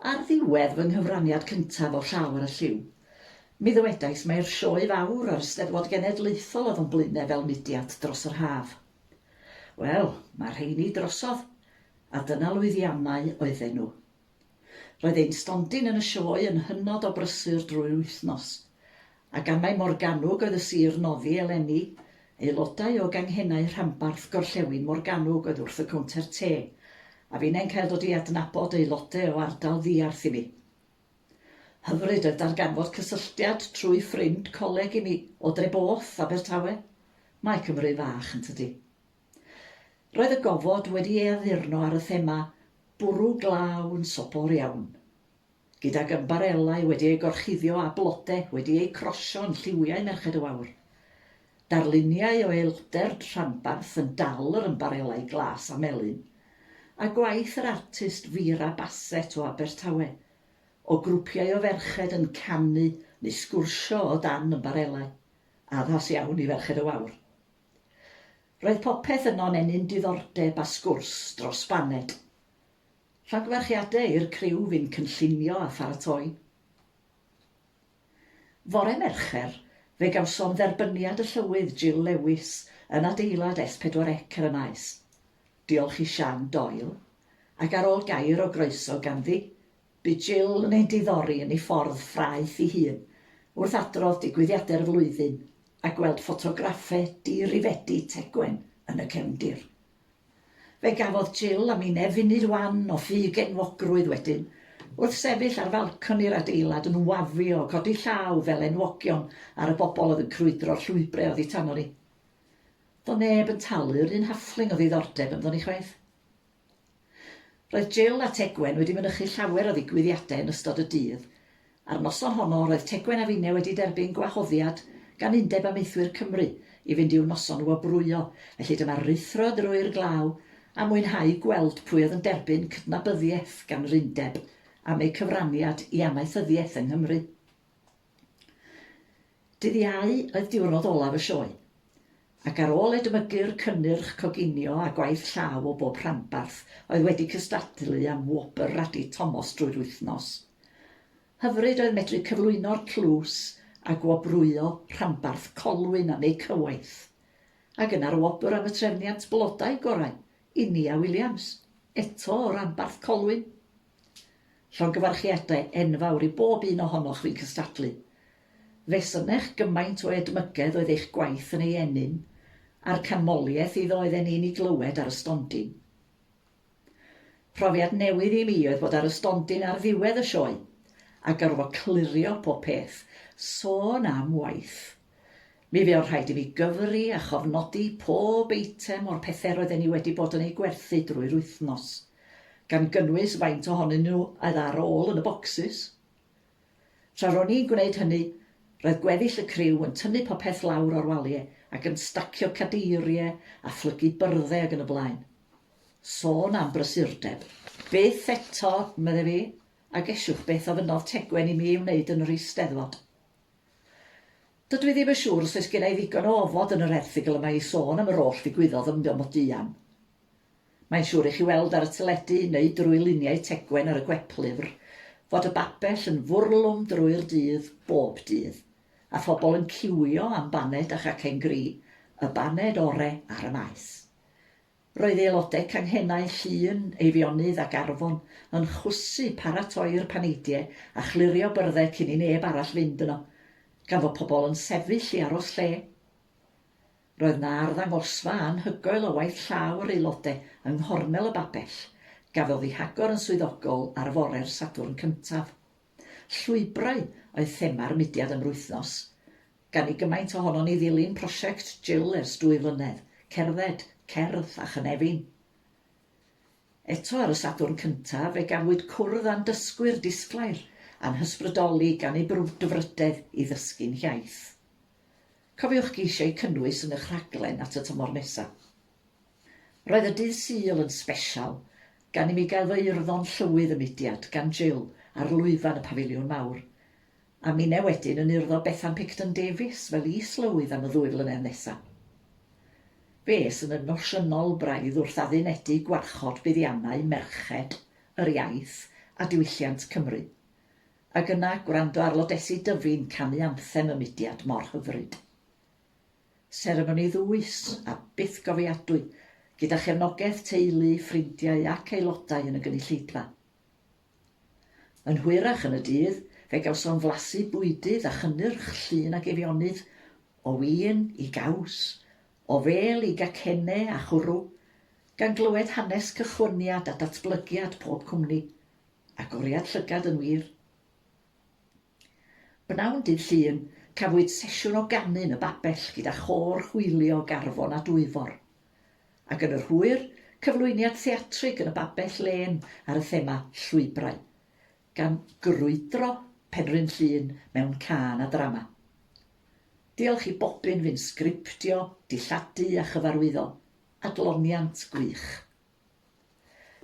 Ar ddiwedd fy nghyfraniad cyntaf o Llaw ar y Lliw, mi ddywedais mai'r sioe fawr a'r Eisteddfod Genedlaethol oedd o'n Blaenau fel mudiad dros yr haf. Wel, mae'r rheiny drosodd, a dyna lwyddiannau oedden nhw. Roedd ein stondin yn y sioe yn hynod o brysur drwy'r wythnos, Ac am mai Morgannwg oedd y sir noddi eleni, aelodau o ganghennau rhanbarth gorllewin Morgannwg oedd wrth y cownter te, a finnau'n cael dod i adnabod aelodau o ardal ddiarth i mi. Hyfryd oedd darganfod cysylltiad trwy ffrind coleg i mi o Dreboth, Abertawe. Mae Cymru'n fach, yn tydi? Roedd y gofod wedi ei addurno ar y thema 'bwrw glaw yn sobor iawn'. Gydag ymbarelau wedi eu gorchuddio â blode wedi eu crosio yn lliwiau Merched y Wawr. Darluniau o eilgder rhanbarth yn dal yr ymbarelau glas a melyn. A gwaith yr artist Vera Bassett o Abertawe. O grwpiau o ferched yn canu neu sgwrsio o dan ymbarelau. Addas iawn i Ferched y Wawr. Roedd popeth yno'n ennyn diddordeb a sgwrs dros baned. Llongyfarchiadau i'r criw fu'n cynllunio a pharatoi. Fore Mercher, fe gawsom dderbyniad y Llywydd Jill Lewis yn adeilad S4C ar y Maes. Diolch i Sian Doyle, ac ar ôl gair o groeso ganddi, bu Jill yn ein diddori yn ei ffordd ffraeth ei hun wrth adrodd digwyddiadau'r flwyddyn a gweld ffotograffau di-rifedi Tegwen yn y cefndir. Fe gafodd Jill a Mine funud wan o ffug enwogrwydd wedyn, wrth sefyll ar falconi'r adeilad yn wafio, codi llaw fel enwogion ar y bobl oedd yn crwydro'r llwybrau oddi tano ni. Doedd neb yn talu yr un hafling o ddiddordeb ynddo ni chwaith. Roedd Jill a Tegwen wedi mynychu llawer o ddigwyddiadau yn ystod y dydd. A'r noson honno, roedd Tegwen a finne wedi derbyn gwahoddiad gan Undeb Amaethwyr Cymru i fynd i'w noson wobrwyo, felly dyma ruthro drwy'r glaw a mwynhau gweld pwy oedd yn derbyn cydnabyddiaeth gan yr Undeb am eu cyfraniad i amaethyddiaeth yng Nghymru. Dydd Iau oedd diwrnod olaf y sioe, ac ar ôl edmygu'r cynnyrch coginio a gwaith llaw o bob rhanbarth oedd wedi cystadlu am wobr Radi Tomos drwy'r wythnos. Hyfryd oedd medru cyflwyno'r tlws a gwobrwyo rhanbarth Colwyn am eu cywaith. Ac yna'r wobr am y trefniant blodau gorau i Nia Williams, eto o ranbarth Colwyn. Llongyfarchiadau enfawr i bob un ohonoch fu'n cystadlu. Fe synech gymaint o edmygedd oedd eich gwaith yn ei ennyn, a'r canmoliaeth iddo oedden ni'n ei glywed ar y stondin. Profiad newydd i mi oedd bod ar y stondin ar ddiwedd y sioe, a gorfod clirio pob peth, sôn am waith! Mi fuodd rhaid i fi gyfri a chofnodi pob eitem o'r pethe roedden ni wedi bod yn eu gwerthu drwy'r wythnos, gan gynnwys faint ohonyn nhw oedd ar ôl yn y bocsys. Tra ro'n i'n gwneud hynny, roedd gweddill y criw yn tynnu popeth lawr o'r walie ac yn stacio cadeirie a phlygu byrdde ag yn y blaen. Sôn am brysurdeb! Byth eto, medde fi, a gesiwch beth ofynnodd Tegwen i mi ei wneud yn yr Eisteddfod. Dydw i ddim yn siŵr os oes genna i ddigon o ofod yn yr erthygl yma i sôn am yr oll ddigwyddodd ym Mro Moduan. Mae'n siŵr i chi weld ar y teledu neu drwy luniau Tegwen ar y gweplyfr fod y babell yn fwrlwm drwy'r dydd bob dydd, a phobl yn ciwio am baned a chacen gri, y baned ore ar y maes. Roedd aelodau canghennau Llŷn, Eifionydd ac Arfon yn chwysu paratoi'r paneidie a chlirio byrddau cyn i neb arall fynd yno, gan fod pobl yn sefyll i aros lle. Roedd 'na arddangosfa anhygoel o waith llaw yr aelodau yng nghornel y Babell, gafodd i hagor yn swyddogol ar fore'r Sadwrn cyntaf. Llwybrau oedd thema'r mudiad am rwythnos. Gan i gymaint ohonon ni ddilyn prosiect Jill ers dwy flynedd, cerdded, cerdd a chynefin. Eto ar y Sadwrn cyntaf fe gafwyd cwrdd â'n dysgwyr disglair a'n hysbrydoli gan eu brwdfrydedd i ddysgu'n hiaith. Cofiwch geisio eu cynnwys yn ych rhaglen at y tymor nesaf. Roedd y dydd Sul yn sbesial gan i mi gael fy urddo'n llywydd y mudiad gan Jill ar lwyfan y Pafiliwn Mawr. A minne wedyn yn urddo Bethan Picton Davies fel is-lywydd am y ddwy flynedd nesa. Fe es yn emosiynol braidd wrth addunedig gwarchod buddiannau merched, yr iaith a diwylliant Cymru. Ag yna gwrando ar Lodesi Dyfi'n canu anthem y mudiad mor hyfryd. Seremoni ddwys a bythgofiadwy gyda chefnogaeth teulu, ffrindiau ac aelodau yn y gynulleidfa. Yn hwyrach yn y dydd, fe gawsom flasu bwydydd a chynnyrch llun ac Eifionydd, o win i gaws, o fêl i gacenne a chwrw, gan glywed hanes cychwyniad a datblygiad pob cwmni. Agoriad llygad yn wir. B'nawn dydd Llun, cafwyd sesiwn o ganu yn y Babell gyda Chôr Hwylio Garfon a Dwyfor. Ac yn yr hwyr, cyflwyniad theatrig yn y Babell Lên ar y thema 'Llwybrau', gan grwydro Penrhyn Llŷn mewn cân a drama. Diolch i Bobyn fu'n sgriptio, dilladu a chyfarwyddo. Adloniant gwych.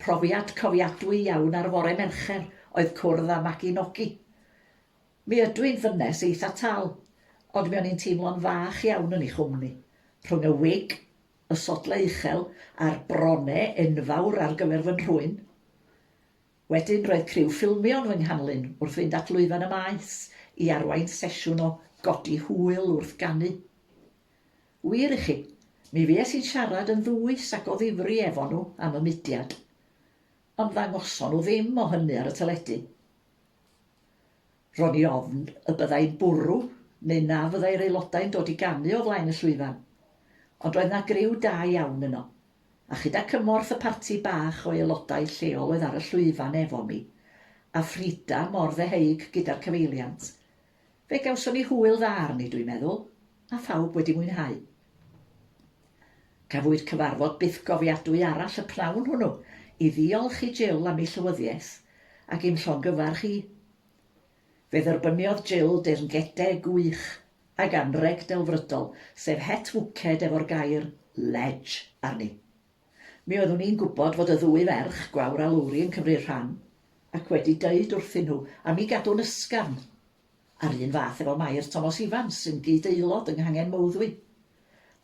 Profiad cofiadwy iawn ar fore Mercher oedd cwrdd â Magi Nogi. Mi ydw i'n ddynes eitha tal, ond mi o'n i'n teimlo'n fach iawn yn ei chwmni. Rhwng y wig, y sodlau uchel, a'r brone enfawr ar gyfer fy nhrwyn. Wedyn roedd criw ffilmio yn fy nghanlyn wrth fynd at lwyfan y maes i arwain sesiwn o godi hwyl wrth ganu. Wir i chi, mi fues i'n siarad yn ddwys ac o ddifri efo nhw am y mudiad. Ond ddangoson nhw ddim o hynny ar y teledu. Ro'n i ofn y byddai'n bwrw neu na fyddai'r aelodau'n dod i ganu o flaen y llwyfan. Ond roedd 'na griw da iawn yno. A chyda cymorth y parti bach o aelodau lleol oedd ar y llwyfan efo mi, a Frida mor ddeheuig gyda'r cyfeiliant, Fe gawson ni hwyl dda arni dwi'n meddwl, a phawb wedi mwynhau. Cafwyd cyfarfod bythgofiadwy arall y pnawn hwnnw i ddiolch i Jill am ei llywyddiaeth ac i'm llongyfarch i. Fe dderbyniodd Jill deyrngede gwych ag anrheg delfrydol, sef het wced efo'r gair 'Ledge' arni. Mi oeddwn i'n gwybod fod y ddwy ferch, Gwawr a Lowri, yn cymryd rhan, ac wedi deud wrthyn nhw am mi gadw'n ysgafn. A'r un fath efo Mair Tomos Ifans, sy'n gyd-aelod yng Nghangen Mowddwy.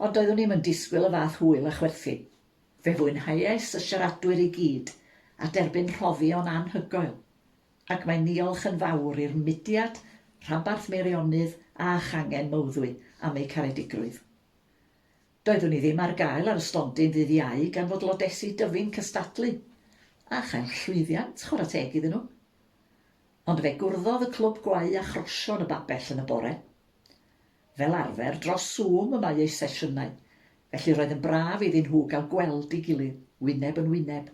Ond doeddwn i'm yn disgwyl y fath hwyl a chwerthin. Fe fwynhaiais y siaradwyr i gyd, a derbyn rhoddion anhygoel. Ac mae niolch yn fawr i'r mudiad, rhanbarth Meirionydd a changen Mowddwy am eu caredigrwydd. Doeddwn i ddim ar gael ar y stondin ddydd Iau gan fod lodesi Dyfi'n cystadlu a chael llwyddiant, chwarae teg iddyn nhw. Ond fe gwrddodd y clwb gwau a chrosion y babell yn y bore. Fel arfer, dros Zoom y mae eu sesiynau, felly roedd yn braf iddyn nhw gael gweld ei gilydd, wyneb yn wyneb.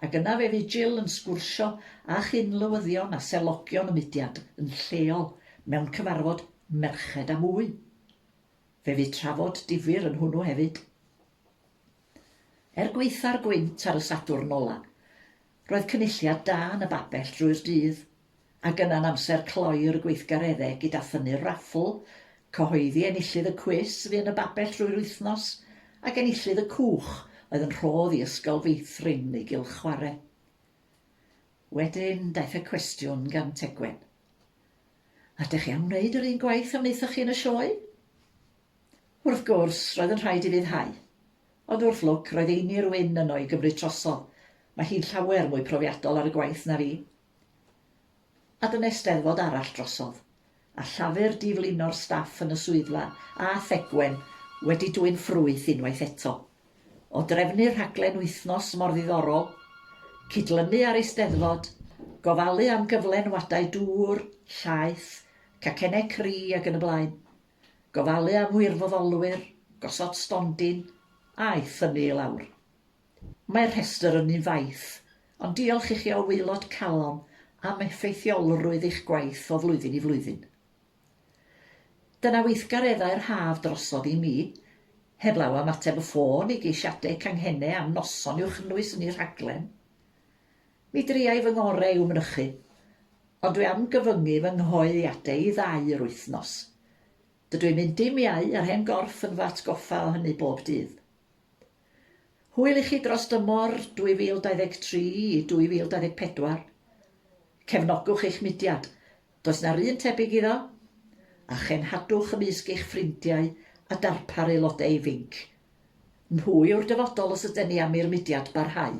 Ac yna fe fu Jill yn sgwrsio â chyn-lywyddion a selogion y mudiad yn lleol mewn cyfarfod merched a mwy. Fe fydd trafod difyr yn hwnnw hefyd. Er gwaetha'r gwynt ar y Sadwrn ola, roedd cynulliad da yn y babell drwy'r dydd, ac yna'n amser cloi'r gweithgareddau gyda thynnu'r raffl, cyhoeddi enillydd y cwis fu yn y babell drwy'r wythnos, ac enillydd y cwch oedd yn rhodd i Ysgol Feithrin ei gylch chwarae. Wedyn daeth y cwestiwn gan Tegwen. Ydych chi am wneud yr un gwaith a wnaethoch chi yn y sioe? Wrth gwrs, roedd yn rhaid i fi ddyhau. Ond wrth lwc, roedd Einir Wyn yno i gymryd trosol. Mae hi'n llawer mwy profiadol ar y gwaith na fi. A dyna Steddfod arall drosodd, a Llafur di-flino'r staff yn y swyddfa, a Thegwen wedi dwyn ffrwyth unwaith eto. o drefnu rhaglen wythnos mor ddiddorol, cydlynu â'r Eisteddfod, gofalu am gyflenwadau dŵr, llaeth, cacennau cri ac yn y blaen, gofalu am wirfoddolwyr, gosod stondin, a'i thynnu i lawr. Mae'r rhestr ynni'n faith, ond diolch i chi o waelod calon am effeithiolrwydd eich gwaith o flwyddyn i flwyddyn. Dyna weithgareddau'r haf drosodd i mi. Heblaw am ateb y ffôn i geisiadau canghennau am noson i'w chynnwys yn y rhaglen. Mi driai fy ngorau i'w mynychu, ond dwi am gyfyngu fy nghyhoeddiadau i ddau yr wythnos. Dydw i'n mynd dim iau a'r hen gorff yn fy atgoffa o hynny bob dydd. Hwyl i chi dros dymor 2023 i 2024. Cefnogwch eich mudiad, Does 'na'r un tebyg iddo? A chenhadwch ymysg eich ffrindiau a darpar aelodau ifinc. Nhw yw'r dyfodol os yden ni am i'r mudiad barhau.